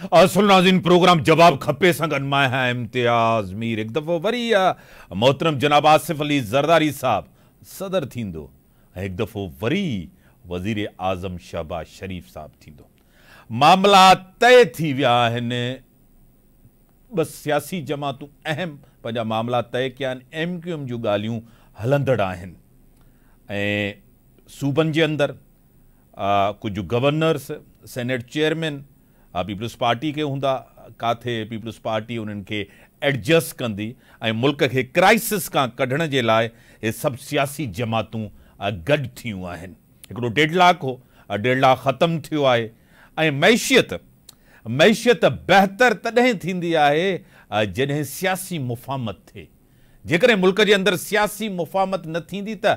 اصل ناظرين پروگرام جواب کپي سان گڏ مان آهيان امتياز مير هڪ دفعو وري محترم جناب آصف علي زرداري صاحب صدر ٿيندو ۽ هڪ دفعو وري وزير اعظم شهباز شريف صاحب ٿيندو معاملا طئي ٿي ويا آهن ٻه سياسي جماعتون اهم پنهنجا معاملا طئي ڪيا آهن، ايم ڪيو ايم جون ڳالهيون هلندڙ آهن ۽ صوبن جي اندر ڪجهه governors, senate chairman Peoples party کي هوندا، ڪاٿي پيپلز پارٽي انهن کي ايڊجسٽ ڪندي ۽ ملڪ کي ڪرائسس کان ڪڍڻ جي لاء هي سڀ سياسي جماعتون گڏ ٿيون آهن، هڪڙو ڊيڊلاڪ هو، ڊيڊلاڪ ختم ٿيو آهي ۽ معيشيت معيشت بهتر تڏهن ٿيندي آهي جڏهن سياسي مفاهمت ٿئي، جيڪڏهن ملڪ جي اندر سياسي مفاهمت نه ٿيندي ته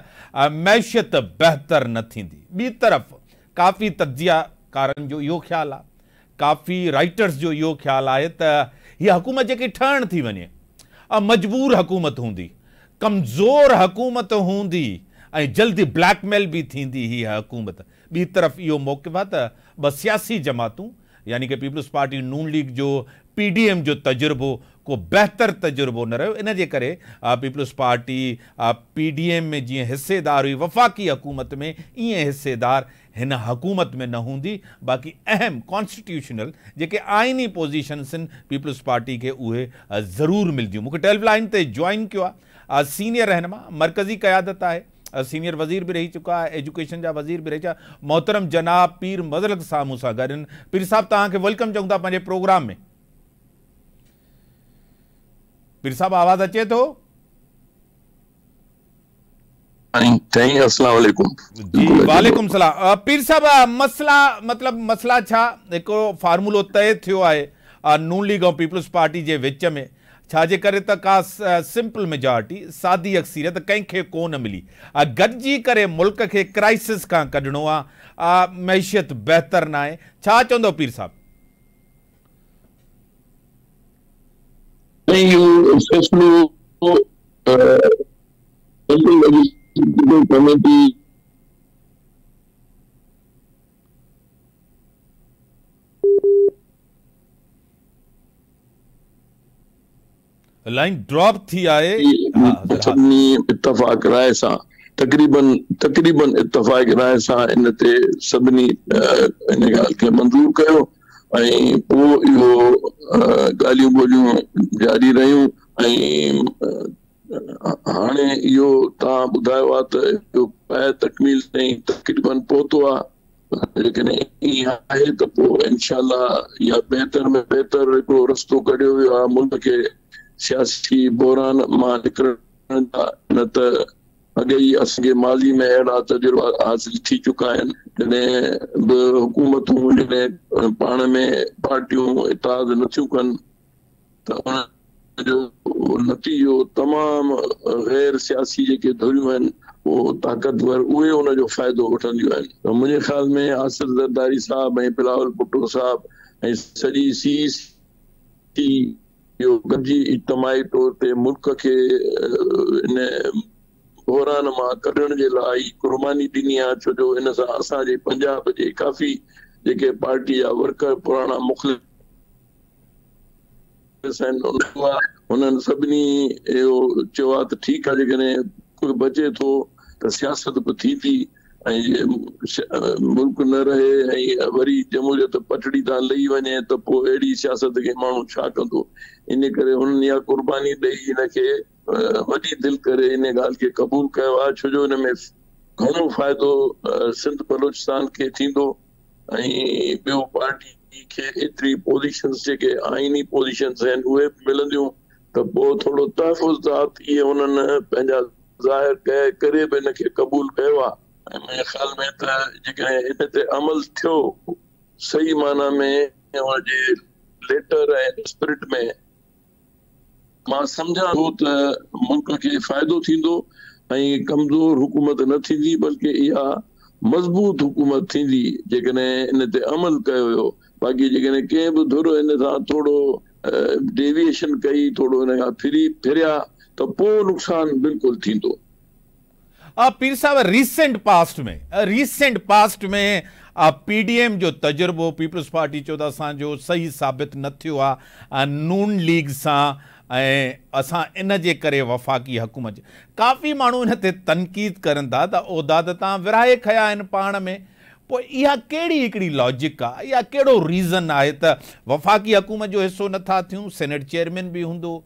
معيشت بهتر نه ٿيندي. ٻي طرف ڪافي تجزيه ڪارن جو اهو خيال آهي، ڪافي رائيٽرز جو اهو خيال آهي ته هيء حڪومت جيڪي ٺهڻ ٿي وڃي، اها مجبور حڪومت هوندي، ڪمزور حڪومت هوندي ۽ جلدي بليڪ ميل به ٿيندي هيء حڪومت. ٻي طرف اهو موقف آهي ته ٻه سياسي جماعتون يعني ڪه پيپلز پارٽي نون ليگ جو پي ڊي ايم جو تجربو ڪو بهتر تجربو نه رهيو ان جي ڪري Peoples Party P D M ۾ جيئن حصيدار هئي وفاقي حڪومت ۾ ايئن حصيدار هن حڪومت ۾ نه هوندي باقي اهم ڪانسٽيٽيوشنل جيڪي آئيني پوزيشنسن پيپلز پارٽي کي اهي ضرور ملديون مونکي ٽيلف لائين تي جوائن ڪيو آهي سينيئر رهنما مرڪزي قيادت آهي سينيئر وزير به رهي چڪا ايجوڪيشن جا وزير به رهي چڪا محترم جناب پير مظلق صاحب مون سان گڏ پير صاحب توهان کي ويلڪم چون ٿا پنهنجي پروگرام ۾ پير صاحب آواز اچي ٿو سائين السلام عليڪم جي وعليڪم السلام پير صاحب مسئلا مطلب مسئلا ڇا هڪڙو فارمولو طئي ٿيو آهي نون ليگ ۽ پيپلز پارٽي جي وچ ۾ ڇا جي ڪري ته ڪا سمپل ميجارٽي، سادي اڪثريت، ڪنهن کي ڪو نه ملي. گڏجي ڪري ملڪ کي ڪرائسس کان ڪڍڻو آ. معيشت بهتر ناهي. ڇا چوندؤ پير صاحب؟ سائين اهو فيصلو Central Legislative Committee. Line drop ٿي آهي سڀني اتفاق راء سان تقريبن تقريبن اتفاق راء سان ان تي سڀني ان ڳالهه کي منظور ڪيو ۽ پوء اهو ڳالهيون ٻولهيون جاري رهيون ۽ هاڻي اهو توهان ٻڌايو آهي ته اهو پنهنجي تڪميل تائين تقريبن پهتو آهي، جيڪڏهن ائين آهي ته پوء انشاء الله اها بهتر ۾ بهتر هڪڙو رستو ڪڍيو ويو آهي ملڪ کي سياسي بحران مان نڪرڻ جا، نه ته اڳي ئي اسان کي ماضي ۾ اهڙا تجربا حاصل ٿي چڪا آهن، جڏهن به حڪومتون جڏهن پاڻ ۾ پارٽيون اتحاد نٿيون ڪن. ته ان جو نتيجو تمام غير سياسي جيڪي ڌريون آهن اهو طاقتور اهي ان جو فائدو وٺنديون آهن ته منهنجي خيال ۾ آصف زرداري صاحب ۽ بلاول ڀٽو صاحب ۽ سڄي سي سي اهو گڏجي اجتماعي طور تي ملڪ کي ان بحران مان ڪڍڻ جي لاء ئي قرباني ڏني آهي ڇو جو ان سان اسان جي پنجاب جي ڪافي جيڪي پارٽي جا ورڪر پراڻا مخلص سائين انهوا هنن سڀني اهو چيو آهي ته ٺيڪ آهي جيڪڏهن ڪجهه بچي ٿو ته سياست به ٿي ٿي ۽ ملڪ نه رهي ۽ وري جمهوريت پٽڙي تان لهي وڃي ته پوء اهڙي سياست کي ماڻهو ڇا ڪندو ان ڪري هنن اها قرباني ڏئي ان کي وڏي دل ڪري ان ڳالهه کي قبول ڪيو آهي ڇو جو ان ۾ گهڻو فائدو سنڌ بلوچستان کي ٿيندو ۽ ٻيو پارٽي کي ايتري پوزيشنز جيڪي آئيني پوزيشنز آهن اهي به ملنديون ته پوء ٿورو تحفظ ته عطيء انهن پنهنجا ظاهر ڪيا اهي ڪري به ان کي قبول ڪيو آهي. ۽ منهنجي خيال ۾ ته جيڪڏهن ان تي عمل ٿيو صحيح معنيٰ ۾ ان جي ليٽر ۽ اسپرٽ ۾ مان سمجهان ٿو ته ملڪ کي فائدو ٿيندو ۽ ڪمزور حڪومت نه ٿيندي بلڪه اها مضبوط حڪومت ٿيندي جيڪڏهن ان تي عمل ڪيو ويو باقي جيڪڏهن ڪنهن به ڌر ان سان ٿورو ڊيويئيشن ڪئي ٿورو ان کان ڦري ڦريا ته پوء نقصان بلڪل ٿيندو. آ پير صاحب ريسينٽ پاسٽ ۾ ريسينٽ پاسٽ ۾ آ پي ڊي ايم جو تجربو پيپلز پارٽي چيو ته اسان جو صحيح ثابت نه ٿيو آ نون ليگ سان ۽ اسان ان جي ڪري وفاقي حڪومت جي ڪافي ماڻهو ان تي تنقيد ڪرن ٿا ته عهدا ته تان ورهائي کنيا آهن پاڻ ۾ پوء اها ڪهڙي هڪڙي لاجڪ آ يا ڪهڙو ريزن آهي ته وفاقي حڪومت جو حصو نه ٿا ٿيون سينيٽ چيئرمين به هوندو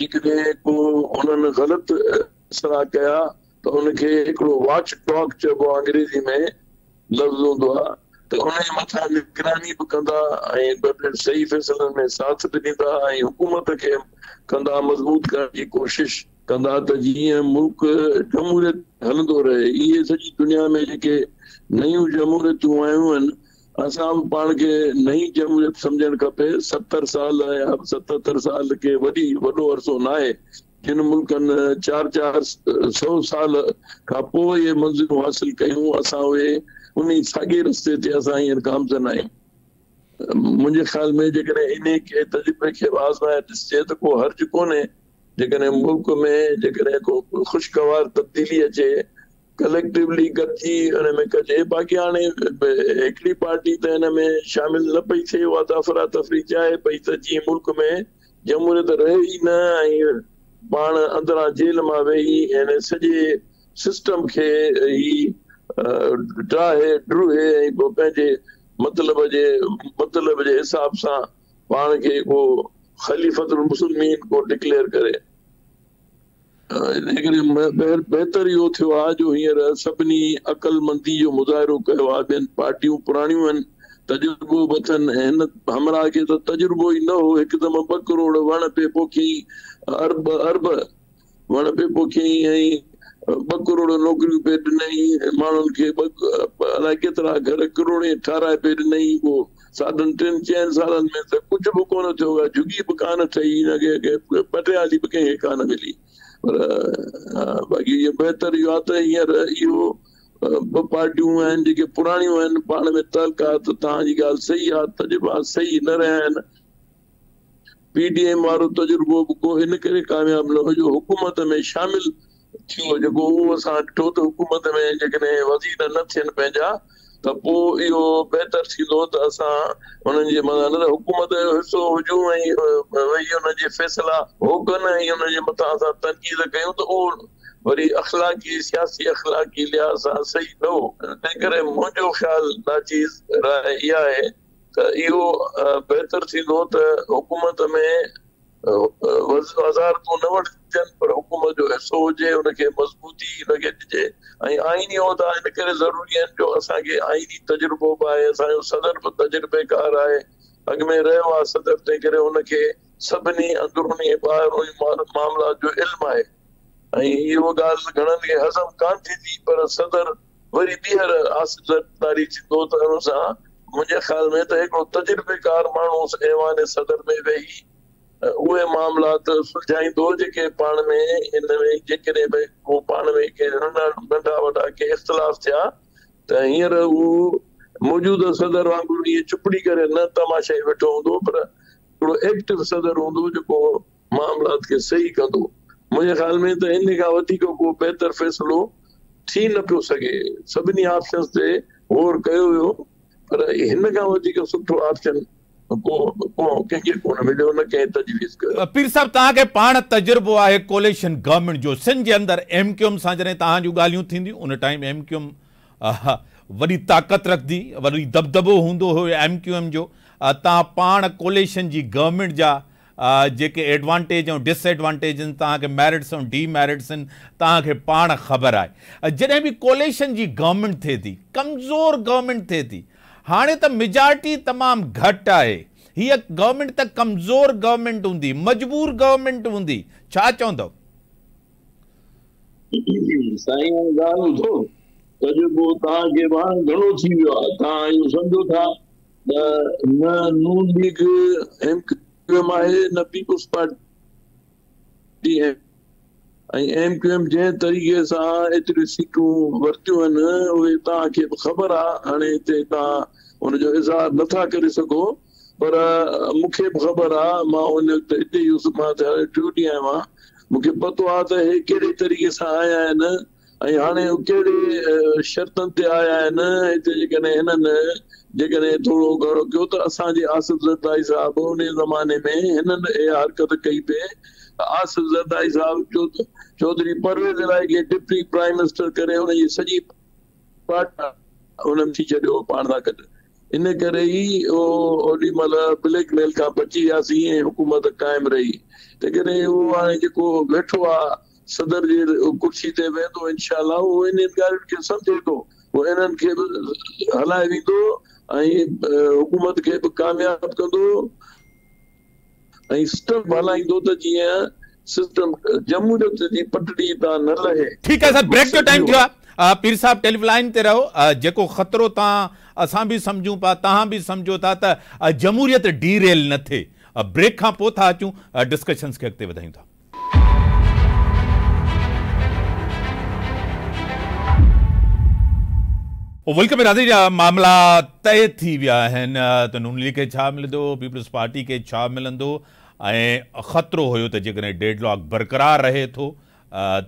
جيڪڏهن ڪو هنن غلط اصلاح ڪيا ته ان کي هڪڙو واچ ڊاگ چئبو آهي انگريزي ۾ لفظ هوندو آهي ته ان جي مٿان نگراني به ڪندا ۽ ٻه ٽي صحيح فيصلن ۾ ساٿ به ڏيندا ۽ حڪومت کي ڪندا مضبوط ڪرڻ جي ڪوشش ڪندا ته جيئن ملڪ جمهوريت هلندو رهي اهي سڄي دنيا ۾ جيڪي نيون جمهوريتون آيون آهن اسان به پاڻ کي نئين جمهوريت سمجهڻ کپي، ستر سال يا ستتر سال ڪي وڏي وڏو عرصو ناهي، جن ملڪن چار چار سئو سال کان پوء اهي منزلون حاصل ڪيون، اسان اهي انهي ساڳي رستي تي اسان هينئر گامزن آهيون. منهنجي خيال ۾ جيڪڏهن انهي ڪي تجربي کي به آزمائي ڏسجي ته ڪو حرج ڪونهي، جيڪڏهن ملڪ ۾ جيڪڏهن ڪو خوشگوار تبديلي اچي ڪليڪٽويلي گڏجي ان ۾ ڪجي باقي هاڻي هڪڙي پارٽي ته ان ۾ شامل نه پئي ٿئي اها ته افراتفري چاهي پئي ته جيئن ملڪ ۾ جمهوريت رهي ئي نه ۽ پاڻ اندران جيل مان ويهي ان سڄي سسٽم کي هي ڊاهي ڊوهي ۽ پوء پنهنجي مطلب جي مطلب جي حساب سان پاڻ کي ڪو خليفت المسلمين ڪو ڊڪليئر ڪري انهيء ڪري بهتر اهو ٿيو آهي جو هينئر سڀني عقلمندي جو مظاهرو ڪيو آهي. ٻين پارٽيون پراڻيون آهن، تجربو به اٿن، هن همراهه کي ته تجربو ئي نه هو، هڪدم ٻه ڪروڙ وڻ پئي پوکيائين، ارب ارب وڻ پئي پوکيائين ۽ ٻه ڪروڙ نوڪريون پئي ڏنائين، ماڻهن کي ٻه الائي ڪيترا گهر ڪروڙين ٺاهرائي پئي ڏنائين، اهو ساڍن ٽن چئن سالن ۾ ته ڪجهه به ڪونه ٿيو آهي، جهڳي به ڪانه ٺهي، ان کي ڪنهن پٽي آلي به ڪنهن کي ڪانه ملي. پر باقي اهو بهتر اهو آهي ته هينئر اهو ٻه پارٽيون آهن جيڪي پراڻيون آهن، پاڻ ۾ تعلقات توهان جي ڳالهه صحيح آهي، تجربا صحيح نه رهيا آهن. پي ڊي ايم وارو تجربو به ڪو ان ڪري ڪامياب نه هو جو حڪومت ۾ شامل ٿيو جيڪو اهو اسان ڏٺو ته حڪومت ۾ جيڪڏهن وزير نه ٿين پنهنجا ته پوء اهو بهتر ٿيندو ته اسان انهن جي مدد نه ته حڪومت جو حصو هجون ۽ ويهي انهن جي فيصلا هوڪن ۽ انهن جي مٿان اسان تنقيد ڪيون ته اهو وري اخلاقي سياسي اخلاقي لحاظ سان صحيح نه هو. تنهنڪري منهنجو خيال ناچيز راء اها آهي ته اهو بهتر ٿيندو ته حڪومت ۾ وزن وزارتون نه وٺجن پر حڪومت جو حصو هجي، ان کي مضبوطي نه ڳنڍجي ۽ آئيني عهدا ان ڪري ضروري آهن جو اسان کي آئيني تجربو به آهي، اسان جو صدر به تجربيڪار آهي، اڳ ۾ رهيو آهي صدر تنهنڪري ان کي سڀني اندروني ۽ ٻاهروني معاملات جو علم آهي ۽ اهو ڳالهه گهڻن کي هضم ڪانه ٿيندي پر صدر وري ٻيهر حاصل طاري ٿيندو ته ان سان منهنجي خيال ۾ ته هڪڙو تجربيڪار ماڻهو اس ايوان صدر ۾ ويهي اهي معاملات سلجهائيندو جيڪي پاڻ ۾ ان ۾ جيڪڏهن به ڪو پاڻ ۾ ڪي ننڍا وڏا ڪي اختلاف ٿيا ته هينئر هو موجوده صدر وانگر ائين چپڙي ڪري نه تماشائي ويٺو هوندو پر هڪڙو ايڪٽو صدر هوندو جيڪو معاملات کي صحيح ڪندو. منهنجي خيال ۾ ته انهي کان وڌيڪ ڪو بهتر فيصلو ٿي نه پيو سگهي. سڀني آپشنز تي غور ڪيو ويو پر هن کان وڌيڪ سٺو آپشن ڪو ڪنهن کي ڪونه مليو نه ڪنهن تجويز ڪيو. پير صاحب توهان کي پاڻ تجربو آهي ڪوليشن گورنمينٽ جو سنڌ جي اندر ايم ڪيو ايم سان جڏهن توهان جون ڳالهيون ٿينديون ان ٽائيم ايم ڪيو ايم وڏي طاقت رکندي وڏي دٻدٻو هوندو هيو ايم ڪيو ايم جو توهان پاڻ ڪوليشن جي گورنمينٽ جا جيڪي ايڊوانٽيج ۽ ڊس ايڊوانٽيج آهن، توهان کي ميرٽس ۽ ڊي ميرٽس آهن، توهان کي پاڻ خبر آهي. جڏهن به ڪوليشن جي گورنمينٽ ٿئي ٿي، ڪمزور گورنمينٽ ٿئي ٿي. هاڻي ته ميجارٽي تمام گهٽ آهي. هيء گورنمينٽ ته ڪمزور گورنمينٽ هوندي، مجبور گورنمينٽ هوندي. ڇا چوندؤ؟ سائين اها ڳالهه ٻڌو، تجربو توهان کي به هاڻي گهڻو ٿي ويو آهي، توهان اهو سمجهو ٿا. نه Noon League M Q M آهي نه Peoples Party ۽ M Q M جنهن طريقي سان ايتريون سيٽون ورتيون آهن اهي توهان کي به خبر آهي هاڻي هتي توهان ان جو اظهار نٿا ڪري سگهو پر مون کي به خبر آهي مان ان وقت هتي هيس مان ٽيون ڏينهن آيو آهيان مون کي پتو آهي ته هي ڪهڙي طريقي سان آيا آهن ۽ هاڻي هو ڪهڙي شرطن تي آيا آهن، هتي جيڪڏهن هنن جيڪڏهن ٿورو گهڻو ڪيو ته اسان جي آصف زرداري صاحب انهيء زماني ۾ هنن اها حرڪت ڪئي پئي ته آصف زرداري صاحب چوڌري پرويز الاهي کي ڊپٽي پرائيم منسٽر ڪري ان جي سڄي پارٽي هن ٿي ڇڏيو پاڻ سان گڏ ان ڪري ئي اوڏي مهل بليڪ ميل کان بچي وياسين ۽ حڪومت قائم رهي جيڪڏهن اهو هاڻي جيڪو ويٺو آهي صدر جي ڪرسي تي ويندو انشاء الله هو انهن ڳالهين کي سمجهي ٿو هو انهن کي به هلائي ويندو ۽ حڪومت کي به ڪامياب ڪندو ۽ سسٽم هلائيندو ته جيئن سسٽم جمهوريت جي پٽڙي تان نه لهي. ٺيڪ آهي صاحب بريڪ جو ٽائيم ٿيو آهي پير صاحب ٽيلف لائين تي رهو جيڪو خطرو تان اسان به سمجهون پيا توهان به سمجهو ٿا ته جمهوريت ڊي ريل نه ٿئي بريڪ کان پوء ٿا اچون ڊسڪشنز کي اڳتي وڌايون ٿا. ملڪ ۾ رهندي جا معاملا طئي ٿي ويا آهن ته نون ليگ کي ڇا ملندو، پيپلز پارٽي کي ڇا ملندو ۽ خطرو هيو ته جيڪڏهن ڊيڊ لاڪ برقرار رهي ٿو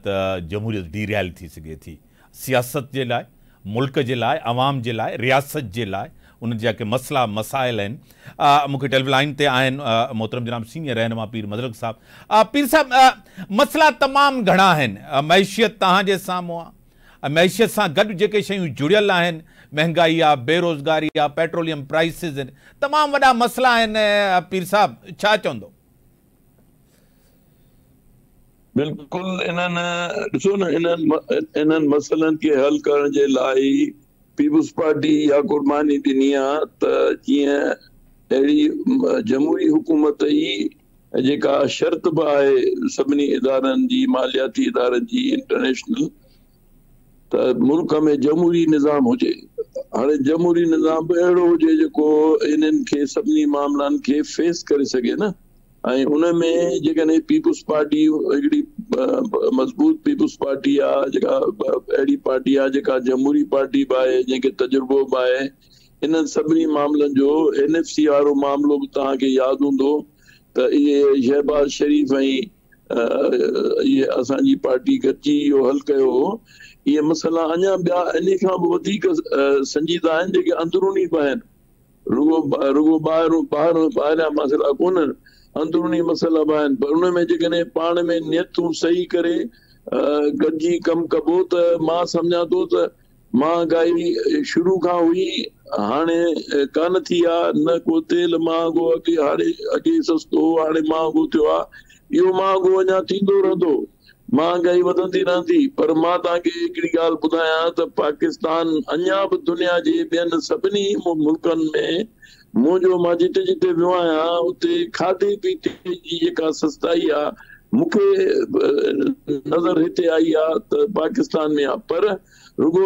ته جمهوريت ڊيريل ٿي سگهي ٿي. سياست جي لاء، ملڪ جي لاء، عوام جي لاء، رياست جي لاء انهن جا جيڪي مسئلا مسائل آهن مون کي ٽيليف لائين تي آهن محترم جناب سينئر رهنما پير مظلق صاحب پير صاحب مسئلا تمام گهڻا آهن معيشيت توهان جي سامهون آهي معيشت سان گڏ جيڪي شيون جڙيل آهن مهنگائي آ بي روزگاري آ پيٽروليم پرائسز تمام وڏا مسئلا آهن پير صاحب ڇا چوندو بلڪل انهن ڏسو نه انهن انهن مسئلن کي حل ڪرڻ جي لاء ئي پيپلز پارٽي اها قرباني ڏني آ ته جيئن اهڙي جمهوري حڪومت ئي جيڪا شرط به آهي سڀني ادارن جي مالياتي ادارن جي انٽرنيشنل ته ملڪ ۾ جمهوري نظام هجي. هاڻي جمهوري نظام به اهڙو هجي جيڪو انهن کي سڀني معاملن کي فيس ڪري سگهي نه ۽ ان ۾ جيڪڏهن پيپلز پارٽي هڪڙي مضبوط پيپلز پارٽي آ جيڪا اهڙي پارٽي آ جيڪا جمهوري پارٽي به آهي جنهن کي تجربو به آهي انهن سڀني معاملن جو اين ايف سي وارو معاملو به توهان کي ياد هوندو ته اهي شهباز شريف ۽ اهي اسان جي پارٽي گڏجي اهو حل ڪيو هو اهي مسئلا اڃا ٻيا انهي کان به وڌيڪ سنجيده آهن جيڪي اندروني به آهن رڳو رڳو ٻاهر ٻاهر ٻاهريان مسئلا ڪونهن اندروني مسئلا به آهن پر ان ۾ جيڪڏهن پاڻ ۾ نيتون صحيح ڪري گڏجي ڪم ڪبو ته مان سمجهان ٿو ته مهانگائي شروع کان هئي هاڻي ڪانه ٿي آ نه ڪو تيل مهانگو اڳي هاڻي اڳي سستو هو هاڻي مهانگو ٿيو آ اهو مهانگو اڃا ٿيندو رهندو مهانگائي وڌندي رهندي پر مان توهان کي هڪڙي ڳالهه ٻڌايان ته پاڪستان اڃا به دنيا جي ٻين سڀني ملڪن ۾ منهنجو مان جتي جتي ويو آهيان اتي کاڌي پيتي جي جيڪا سستائي آ مون کي نظر هتي آئي آ ته پاڪستان ۾ آ پر رڳو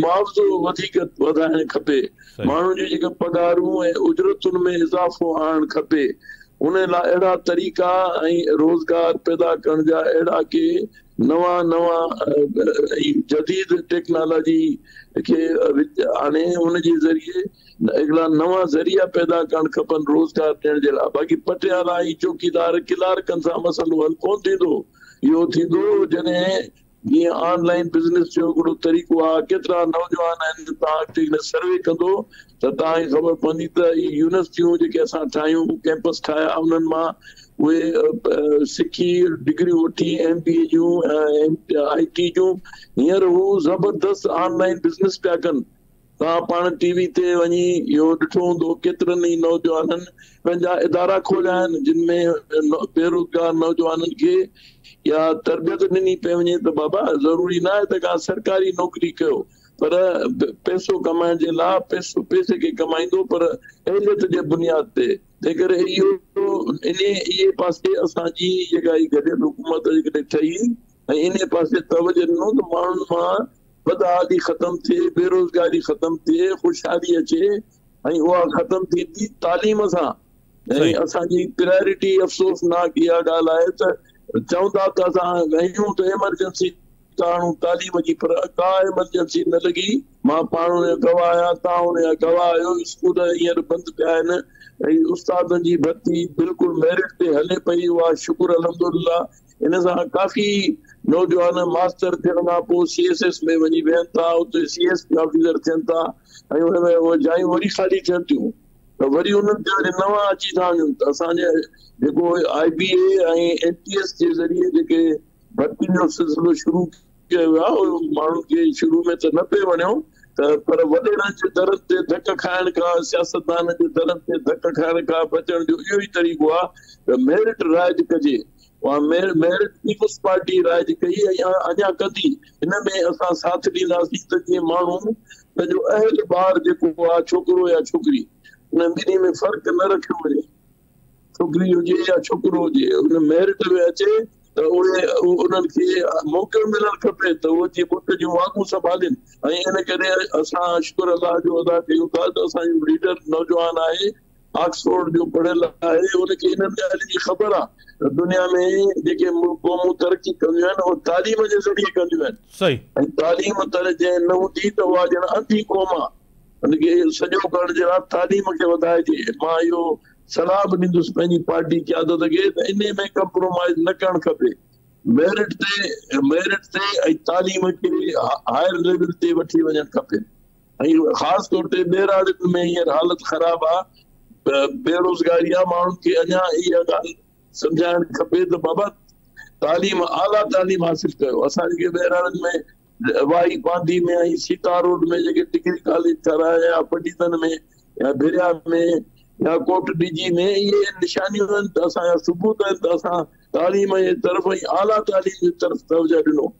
معاوضو وڌيڪ وڌائڻ کپي، ماڻهن جون جيڪي پگهارون ۽ اجرتن ۾ اضافو آڻڻ کپي، ان لاء اهڙا طريقا ۽ روزگار پيدا ڪرڻ جا اهڙا ڪي نوان نوان ۽ جديد ٽيڪنالاجي کي وچ آڻي ان جي ذريعي اهڙا نوان ذريعا پيدا ڪرڻ کپن روزگار ڏيڻ جهڙا باقي پٽيالا ۽ چوڪيدار ڪلارڪن سان مسئلو حل ڪونه ٿيندو اهو ٿيندو جڏهن جيئن آن لائين بزنس جو هڪڙو طريقو آ ڪيترا نوجوان آهن توهان اڳتي هن سروي ڪندو ته توهان کي خبر پوندي ته هي يونيورسٽيون جيڪي اسان ٺاهيون ڪيمپس ٺاهيا انهن مان اهي سکي ڊگريون وٺي ايم بي اي جون آئي ٽي جون هينئر هو زبردست آن لائين بزنس پيا ڪن توهان پاڻ ٽي وي تي وڃي اهو ڏٺو هوندو ڪيترن ئي نوجوانن پنهنجا ادارا کوليا آهن جن ۾ بيروزگار نوجوانن کي اها تربيت ڏني پئي وڃي ته بابا ضروري نه آهي ته ڪا سرڪاري نوڪري ڪيو پر پئسو ڪمائڻ جي لاء پئسو پئسي کي ڪمائيندو پر اهليت جي بنياد تي تنهن ڪري اهو ان اهي پاسي اسان جي جيڪا هي گڏيل حڪومت جيڪڏهن ٺهي ۽ انهيء پاسي توجهه ڏنو ته ماڻهن مان بدحالي ختم ٿئي، بيروزگاري ختم ٿئي، خوشحالي اچي ۽ اها ختم ٿيندي تعليم سان ۽ اسان جي پرائرٽي افسوسناڪ اها ڳالهه آهي ته چوندا ته اسان ڳايون ته ايمرجنسي ڪاڻو تعليم جي پر ڪا ايمرجنسي نه لڳي، مان پاڻ ان جو گواهه آهيان، توهان ان جا گواهه آهيو، اسڪول هينئر بند پيا آهن ۽ استادن جي ڀرتي بلڪل ميرٽ تي هلي پئي، اها شڪر الحمدلله ان سان ڪافي نوجوان ماستر ٿيڻ کان پوء سي ايس ايس ۾ وڃي ويهن ٿا اتي سي ايس پي آفيسر ٿين ٿا ۽ ان ۾ اهي جايون وري خالي ٿين ٿيون ته وري انهن تي وري نوان اچي ٿا وڃن ته اسان جي جيڪو I B A ۽ N T S جي ذريعي جيڪي ڀرتين جو سلسلو شروع ڪيو ويو آهي اهو ماڻهن کي شروع ۾ ته نه پئي وڻيو ته پر وڏيرن جي درن تي ڌڪ کائڻ کان سياستدانن جي درن تي ڌڪ کائڻ کان بچڻ جو اهو ئي طريقو آهي ته ميرٽ رائج ڪجي اها ميرٽ پيپلز پارٽي رائج ڪئي ۽ اڃا ڪندي، ان ۾ اسان ساٿ ڏينداسين ته جيئن ماڻهو پنهنجو اهل ٻار جيڪو آهي ڇوڪرو يا ڇوڪري انهن ٻنهي ۾ فرق نه رکيو وڃي، ڇوڪري هجي يا ڇوڪرو هجي ان ميرٽ ۾ اچي ته اهي انهن کي موقعو ملڻ کپي ته اهي جي ملڪ جون واڳون سنڀالين ۽ ان ڪري اسان شڪر الله جو ادا ڪيون ٿا ته اسان جو ليڊر نوجوان آهي آڪسفورڊ جو پڙهيل آهي، هن کي انهن ڳالهين جي خبر آهي ته دنيا ۾ جيڪي قومون ترقي ڪنديون آهن، اهي تعليم جي ذريعي ڪنديون آهن ۽ تعليم تڙ جنهن نه هوندي ته اها ڄڻ انڌي قوم آهي. هن کي سڄو ڪرڻ جي راء تعليم کي وڌائجي. مان اهو صلاح به ڏيندس پنهنجي پارٽي قيادت کي ته انهي ۾ ڪمپرومائيز نه ڪرڻ کپي. ميرٽ تي ميرٽ تي ۽ تعليم کي هائر ليول تي وٺي وڃڻ کپي. ۽ خاص طور تي ٻهراڙين ۾ هينئر حالت خراب آهي ته بيروزگاري آهي ماڻهن کي اڃا اها ڳالهه سمجهائڻ کپي ته بابا تعليم اعليٰ تعليم حاصل ڪيو اسان جيڪي ٻهراڙين ۾ واهي پانڌي ۾ ۽ سيتا روڊ ۾ جيڪي ڊگري ڪاليج ٺهرايا يا پنڊيتن ۾ يا ڀريا ۾ يا ڪوٽ ڊجي ۾ اهي نشانيون آهن ته اسان جا ثبوت آهن ته اسان تعليم جي طرف ۽ اعليٰ تعليم جي طرف توجه ڏنو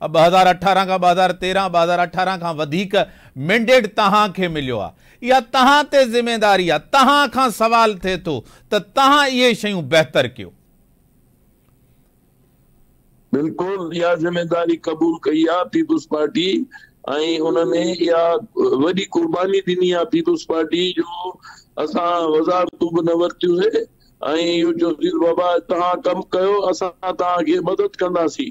ٻه هزار اٺارهن کان ٻه هزار تيرهن ٻه هزار اٺارهن کان وڌيڪ مينڊيٽ توهان کي مليو آ اها توهان تي ذميداري آ توهان کان سوال ٿئي ٿو ته توهان اهي شيون بهتر ڪيو. بلڪل اها ذميداري قبول ڪئي آ پيپلز پارٽي ۽ ان ۾ اها وڏي قرباني ڏني آ پيپلز پارٽي جو اسان وزارتون به نه ورتيون سي ۽ اهو چوسي ته بابا توهان ڪم ڪيو اسان توهان کي مدد ڪنداسين.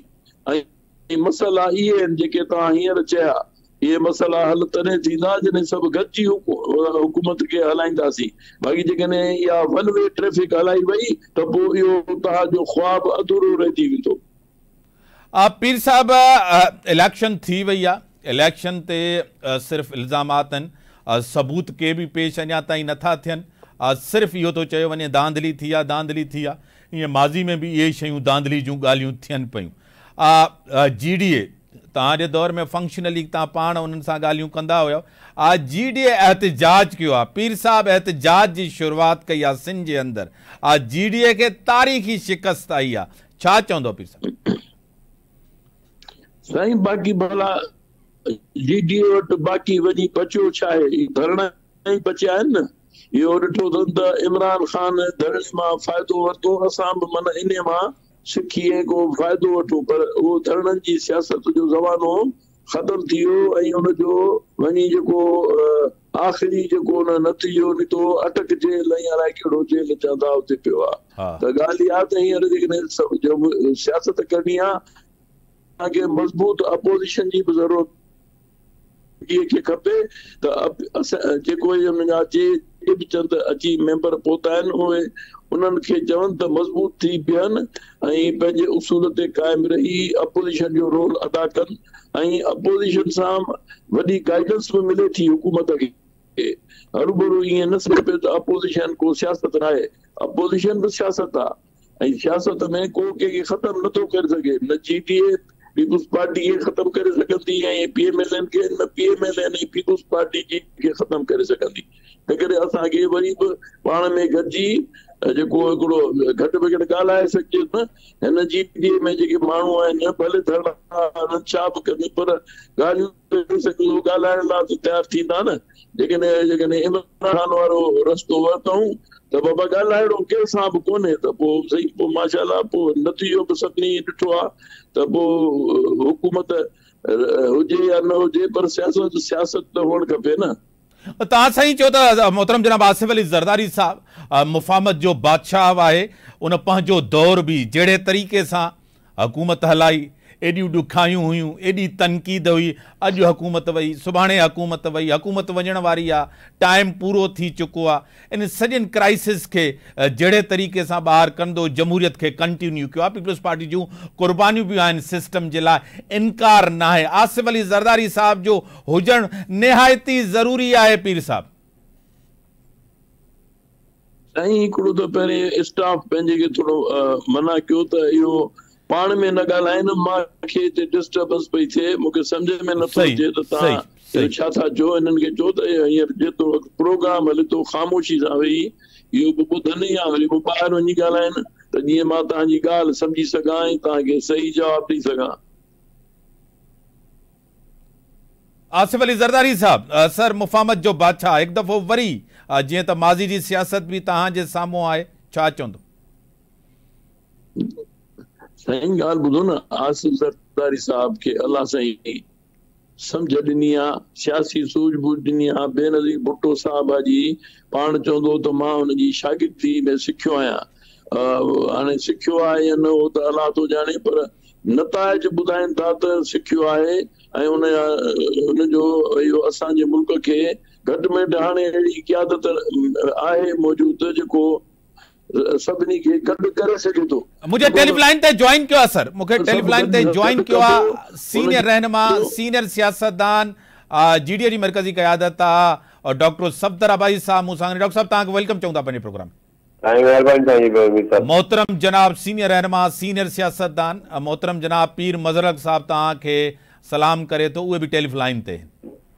۽ مسئلا اهي آهن جيڪي توهان هينئر چيا، اهي مسئلا حل تڏهن ٿيندا جڏهن سڀ گڏجي حڪومت کي هلائينداسين، باقي جيڪڏهن اها ون وي ٽريفڪ هلائي وئي ته پوء اهو توهان جو خواب اڌورو رهجي ويندو. پير صاحب اليڪشن ٿي وئي آ اليڪشن تي صرف الزامات آهن ثبوت ڪي به پيش اڃا تائين نٿا ٿين صرف اهو ٿو چيو وڃي ڌانڌلي ٿي آ ڌانڌلي ٿي آ ايئن ماضي ۾ به اهي ئي شيون ڌانڌلي جون ڳالهيون ٿين پيون. آء جي ڊي اي توهان جي دور ۾ فنڪشنل ليگ توهان پاڻ انهن سان ڳالهيون ڪندا هيؤ. آء جي ڊي اي احتجاج ڪيو آ. پير صاحب احتجاج جي شروعات ڪئي آ سنڌ جي اندر. آء جي ڊي اي کي تاريخي شڪست آئي آ. ڇا چوندؤ پير صاحب؟ سائين باقي ڀلا جي ڊي اي وٽ باقي وڃي بچيو ڇا آهي؟ ڌرڻا ئي بچيا آهن نه. اهو ڏٺو اٿن ته عمران خان ڌرڻي مان فائدو ورتو، اسان به من انهي مان سکي ۽ ڪو فائدو وٺون پر اهو ڌرڻن جي سياست جو زمانو ختم ٿي ويو ۽ ان جو وڃي جيڪو آخري جيڪو ان نتيجو نڪتو اٽڪ جيل ۽ الائي ڪهڙو جيل چوندا اتي پيو آ ته ڳالهه اها ته هينئر جيڪڏهن جو به سياست ڪرڻي آ تنهن کي مضبوط اپوزيشن جي به ضرورت جي کي کپي ته اسان جيڪو هي ۾ اچي جي به چند اچي ميمبر پوتا آهن اهي انهن کي چون ته مضبوط ٿي بيهن ۽ پنهنجي اصول تي قائم رهي اپوزيشن جو رول ادا ڪن ۽ اپوزيشن سان وڏي گائيڊنس به ملي ٿي حڪومت کي هروڀرو ائين نه سمجهبي ته اپوزيشن ڪو سياست ناهي اپوزيشن به سياست آهي ۽ سياست ۾ ڪو ڪنهن کي ختم نه ٿو ڪري سگهي، نه G D A Peoples party کي ختم ڪري سگهندي ۽ پي ايم ايل اين کي نه P M L N ۽ Peoples Party جي کي ختم ڪري سگهندي تنهنڪري اسان کي وري به پاڻ ۾ گڏجي جيڪو هڪڙو گهٽ بگهٽ ڳالهائي سگهجي نه هن جي ڊي اي ۾ جيڪي ماڻهو آهن ڀلي ڌرڻا هڻن ڇا به ڪن پر ڳالهيون ڪري سگهندو ڳالهائڻ لاء تيار ٿيندا نه جيڪڏهن جيڪڏهن عمران خان وارو رستو ورتائون ته بابا ڳالهائڻو ڪنهن سان به ڪونهي ته پوء سهي پوء ماشاء الله پوء نتيجو به سڀني ڏٺو آهي ته پوء حڪومت هجي يا نه هجي پر سياست سياست ته هئڻ کپي نه. توهان سائين چئو ته محترم جناب آصف علي زرداري صاحب مفاهمت جو بادشاهه آهي ان پنهنجو دور به جهڙي طريقي سان حڪومت هلائي، ايڏيون ڏکايون هيون، ايڏي تنقيد هئي، اڄ حڪومت وئي، سڀاڻي حڪومت وئي، حڪومت وڃڻ واري آ، ٽائيم پورو ٿي چڪو آ، انهن سڄن ڪرائسز کي جهڙي طريقي سان ٻاهر ڪندو، جمهوريت کي ڪنٽينيو ڪيو آ، پيپلز پارٽي جون قربانيون به آهن سسٽم جي لاء، انڪار ناهي، آصف علي زرداري صاحب جو هجڻ نهايت ئي ضروري آهي پير صاحب. سائين هڪڙو ته پهرين اسٽاف پنهنجي کي ٿورو منع ڪيو ته اهو پاڻ ۾ نه ڳالهائين مان کي هتي ڊسٽربنس پئي ٿئي مون کي سمجهه ۾ نٿو اچي ته تهان اهو ڇا ٿا چئو انهن کي چئو ته هينئر جيترو وقت پروگرام هلي ٿو خاموشي سان ويهي اهو به ٻڌن يا وري به ٻاهر وڃي ڳالهائين ته جيئن مان تهان جي ڳالهه سمجهي سگهان ۽ تهان کي صحيح جواب ڏئي سگهان. آصف علي زرداري صاحب سر مفاهمت جو بادشاهه هڪ دفعو وري جيئن ته ماضي جي سياست به توهان جي سامهون آهي ڇا چوندو. سائين ڳالهه ٻڌو نه آصف زرداري صاحب کي الله سائين سمجهه ڏني آ سياسي سوجهه ٻوجهه ڏني آ بينظير ڀٽو صاحب آ جي پاڻ چوندو هو ته مان ان جي شاگردي ۾ سکيو آهيان هاڻي سکيو آهي يا نه اهو ته الله ٿو ڄاڻي پر نتائج ٻڌائين ٿا ته سکيو آهي ۽ ان جو اهو اسان جي ملڪ کي گهٽ ۾ گهٽ هاڻي اهڙي قيادت آهي موجود جيڪو سڀني کي گڏ ڪري سگهي ٿو. مون کي ٽيلف لائن تي جوائن ڪيو آهي سر مون کي ٽيلف لائن تي جوائن ڪيو آهي سينئر رهنما سينئر سياستدان جي ڊي اي جي مرڪزي قيادت آهي ڊاڪٽر صفدر آبائي صاحب مون سان ڊاڪٽر صاحب توهان کي ويلڪم چئون ٿا پنهنجي پروگرام ۾ سائين مهرباني تهانجي به اميد اٿس. محترم جناب سينئر رهنما سينئر سياستدان محترم جناب پير مظهرالحق صاحب توهان کي سلام ڪري ٿو اهي به ٽيلف لائين تي.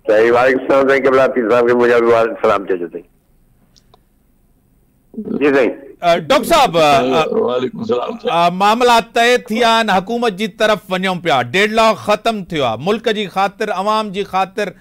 سائين وعليڪم السلام سائين قبلا پير صاحب کي منهنجا به وارد سلام چئجو سائين جي سائين. ڊاڪٽر صاحب وعليڪم السلام سائين. معاملا طئي ٿي ويا آهن حڪومت جي طرف وڃون پيا ڊيڊ لاڪ ختم ٿيو آهي ملڪ جي خاطر عوام جي خاطر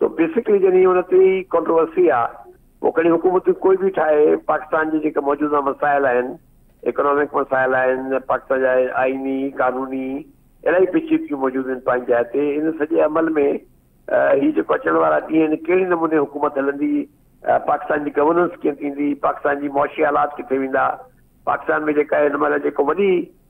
سو بيسڪلي جن هي ان تي ئي ڪنٽروورسي آ پو کڻي حڪومتون ڪوئي به ٺاهي پاڪستان جي جيڪي موجوده مسائل آهن ايڪنامڪ مسائل آهن پاڪستان جا آئيني قانوني الاهي پيچيدگيون موجود آهن پنهنجي جاء تي ان سڄي عمل ۾ هي جيڪو اچڻ وارا ڏينهن آهن ڪهڙي نموني حڪومت هلندي پاڪستان جي گورننس ڪيئن ٿيندي پاڪستان جي معاشي حالات ڪٿي ويندا پاڪستان ۾ جيڪا هن مهل جيڪو وڏي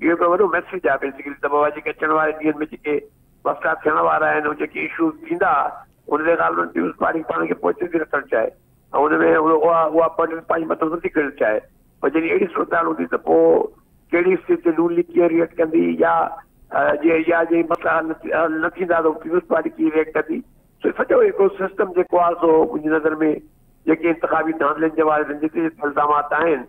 اهو هڪ وڏو ميسيج آهي بيسيڪلي ته بابا جيڪي اچڻ واري ڏينهن ۾ جيڪي وفدا ٿيڻ وارا آهن هو جيڪي اشوز ٿيندا ان تي ڳالهه انهن نيوز پاڙي پاڻ کي پوئتي ٿي رکڻ چاهي ۽ ان ۾ اها اها برڊن پنهنجي مٿو نٿي کڻڻ چاهي پر جڏهن اهڙي صورتحال هوندي ته پوء ڪهڙي اسٽيج تي نون ليگ ڪيئن ريئيڪٽ ڪندي يا جي يا جي مسئلا حل حل نه ٿيندا ته پيپلز پارٽي ڪيئن ريئيڪٽ ڪندي سو سڄو هڪ سسٽم جيڪو آهي سو منهنجي نظر ۾ جيڪي انتخابي ڌانڌلين جي واري جتي جتي الزامات آهن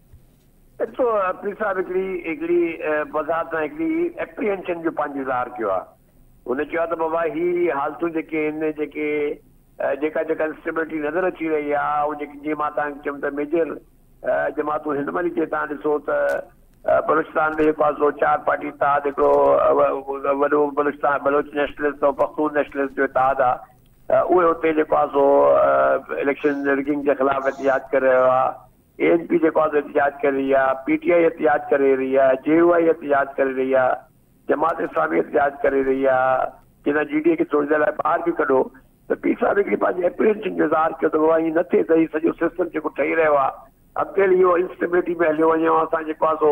ايترو پير صاحب هڪڙي هڪڙي بظاهر تان هڪڙي ايپريهينشن جو پنهنجو اظهار ڪيو آهي. هن چيو آهي ته بابا هي حالتون جيڪي آهن جيڪي جيڪا جيڪا انسٽيبلٽي نظر اچي رهي آهي ۽ جيڪي جيئن مان تهان کي چيم ته ميجر جماعتون هن مهل جي تهان ڏسو ته بلوچستان ۾ جيڪو آهي سو چار پارٽي اتحاد هڪڙو وڏو بلوچستان بلوچ نيشنلسٽ ۽ پختون نيشنلسٽ جو اتحاد آهي اهي اتي جيڪو آهي سو اليڪشن رگنگ جي خلاف احتجاج ڪري رهيو آهي. اي اين پي جيڪو آهي سو احتجاج ڪري رهي آهي، پي ٽي آء احتجاج ڪري رهي آهي، جي يو آء احتجاج ڪري رهي آهي، جماعت اسلامي احتجاج ڪري رهي آهي، چئي ٿا جي ڊي اي کي ٿوري دير لاء ٻاهر به ڪڍو ته پير صاحب هڪڙي پنهنجي اپرينشن جو اظهار ڪيو ته بابا ائين نه ٿئي ته هي سڄو سسٽم جيڪو ٺهي رهيو آهي اڳتي هلي اهو انسٽيبلٽي ۾ هليو وڃي ۽ اسان جيڪو آهي سو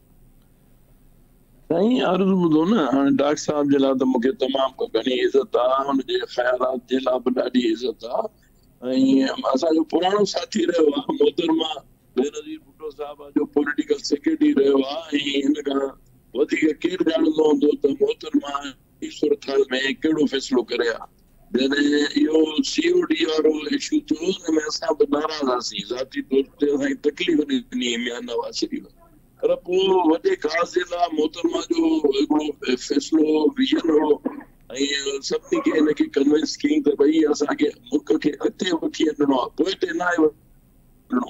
سائين عرض ٻڌو نه هاڻي ڊاڪٽر صاحب جي لاء ته مون کي تمام گهڻي عزت آ ان جي خيالات جي لاء به ڏاڍي عزت آ ۽ اسان جو پراڻو ساٿي رهيو آ محترمه بينظير ڀٽو صاحب جو پوليٽيڪل سيڪريٽري رهيو آ ۽ ان کان وڌيڪ ڪير ڄاڻندو هوندو ته محترمه جي صورتحال ۾ ڪهڙو فيصلو ڪري ها. جڏهن اهو سي او ڊي وارو اشو ٿيو ان ۾ اسان به ناراض هئاسين، ذاتي طور تي اسان کي تڪليف ڏني هئي ميان نواز شريف ۽. پر پوء وڏي قاضي لا محترمه جو هڪڙو فيصلو ويجن هو ۽ سڀني کي ان کي ڪنوينس ڪيائين ته ڀئي اسان کي ملڪ کي اڳتي وٺي هلڻو آهي پوئتي ناهي وڃڻو.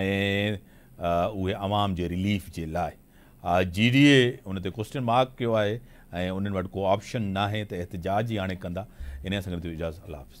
۽ اهي عوام جي رليف جي لاء جي ڊي اي ان تي ڪوسٽن مارڪ ڪيو آهي ۽ انهن وٽ ڪو آپشن ناهي ته احتجاج ئي هاڻي ڪندا انهيء سان گڏ ٿيو اجازت الله حافظ.